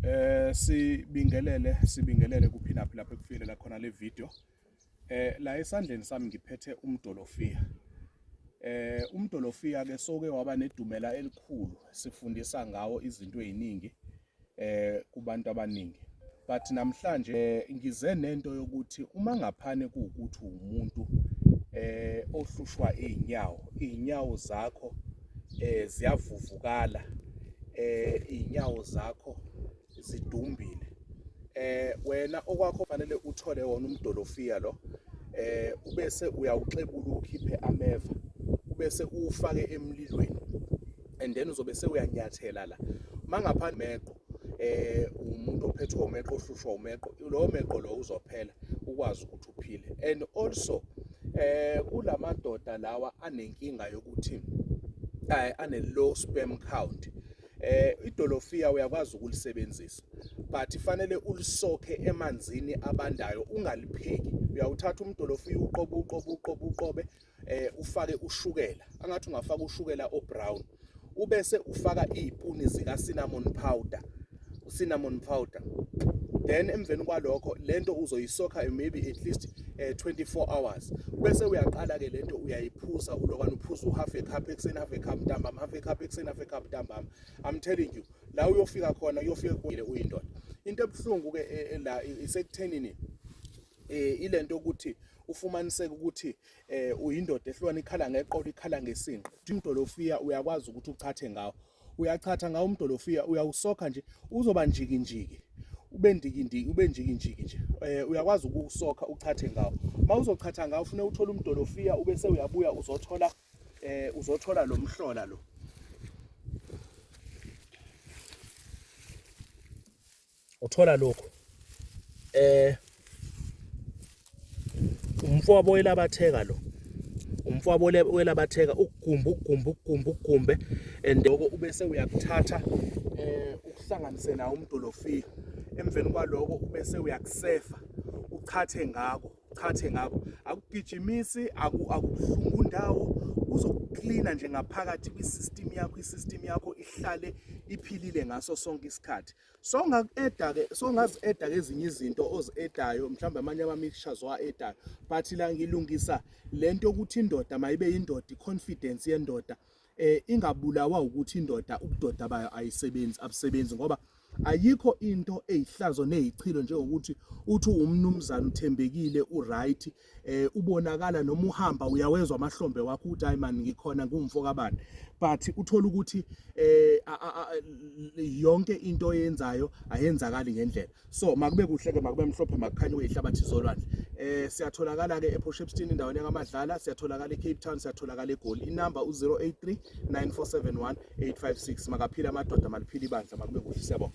Eh sibingelele sibingelele kuphinaphi lapho ekufilela khona le video. Eh la esandleni sami ngiphethe umdolofiya. Eh umdolofiya ke soke waba nedumela elikhulu sifundisa ngawo izinto eziningi eh kubantu abaningi. But namhlanje eh, ngize nento yokuthi uma ngaphane kuukuthi umuntu eh ohlushwa izinyawo, izinyawo zakho eh ziyavuvukala eh inyawo zakho zidumbile eh wena okwakho fanele uthole wona umdolofiya lo eh ubese uyawuxebula ukhiphe ameva ubese uwufake emlilweni and then uzobe sewuyanyathela la mangaphandle meqo eh umuntu ophethwe umeqo ohlushwa umeqo lowo meqo lowo uzophela ukwazi ukuthi uphile and also eh kulamadoda lawa anenkinga yokuthi eh, ane low sperm count eh idolofiya uyakwazi ukulisebenzisa but fanele ulisokhe emanzini abandayo ungalipheki uyawuthatha umdolofiya uqobe uqobe uqobe uqobe eh ufake ushukela angathi ungafaka ushukela obrown ubese ufaka izipuni zika cinnamon powder cinnamon powder then emveni kwalokho lento uzoyisokha maybe at least uh, eh, 24 hours bese uyaqala ke lento uyayiphuza ulokwana uphuza uhalf a cup ekuseni half a cup ntambama half a cup ekuseni half a cup ntambama i'm telling you la uyofika khona uyofika kuyile uyindoda into ebuhlungu ke eh, eh, la isekuthenini eh ilento ukuthi ufumaniseke ukuthi eh uyindoda ehlukana ikhala ngeqolo ikhala ngesinqe umdolofiya uyakwazi ukuthi uchathe ngawo uyachatha ngawo umdolofiya uyawusokha nje uzoba njiki njiki ube ndikindiki ube njikijiki nje eh uyakwazi ukusokha uchathe ngawo uma uzochatha ngawo ufune uthole umdolofiya ube sewuyabuya uzothola eh uzothola lo mhlola lo uthola lokhu eh umfowabo welabatheka lo umfowabo welabatheka ukugumba ukugumba ukugumba ukugumbe and lokho ubese uyakuthatha eh ukuhlanganise nawo umdolofika emveni kwaloko ubese uyakusefa uchathe ngako uchathe ngako akugijimisi akubuhlungu ndawo uzokuklina nje ngaphakathi kwi-system yakho i-system yakho ihlale iphilile ngaso sonke isikhathi so ngaku-eda ke so ngazi-eda ke ezinye izinto ozi-edayo mhlawumbe amanye ama-mixtures owa-edayo but la ngilungisa le nto yokuthi indoda mayibe yindoda i-confidence yendoda eh ingabulawa ukuthi indoda ubudoda bayo ayisebenzi abusebenzi ngoba ayikho into eyihlazo neyichilo njengokuthi uthi umnumzana uthembekile uright eh ubonakala noma uhamba uyawezwa amahlombe wakho ukuthi hayi man ngikhona ngumfo kabani but uthola ukuthi eh yonke into oyenzayo ayenzakali ngendlela so makube kuhle ke makube mhlophe makukhanye uyihlabathi zolwandle eh siyatholakala ke ePort Shepstone indaweni yangamadlala siyatholakala eCape Town siyatholakala eGoli inamba u083 9471 856 makaphila amadoda maliphila ibandla makube kuhle siyabonga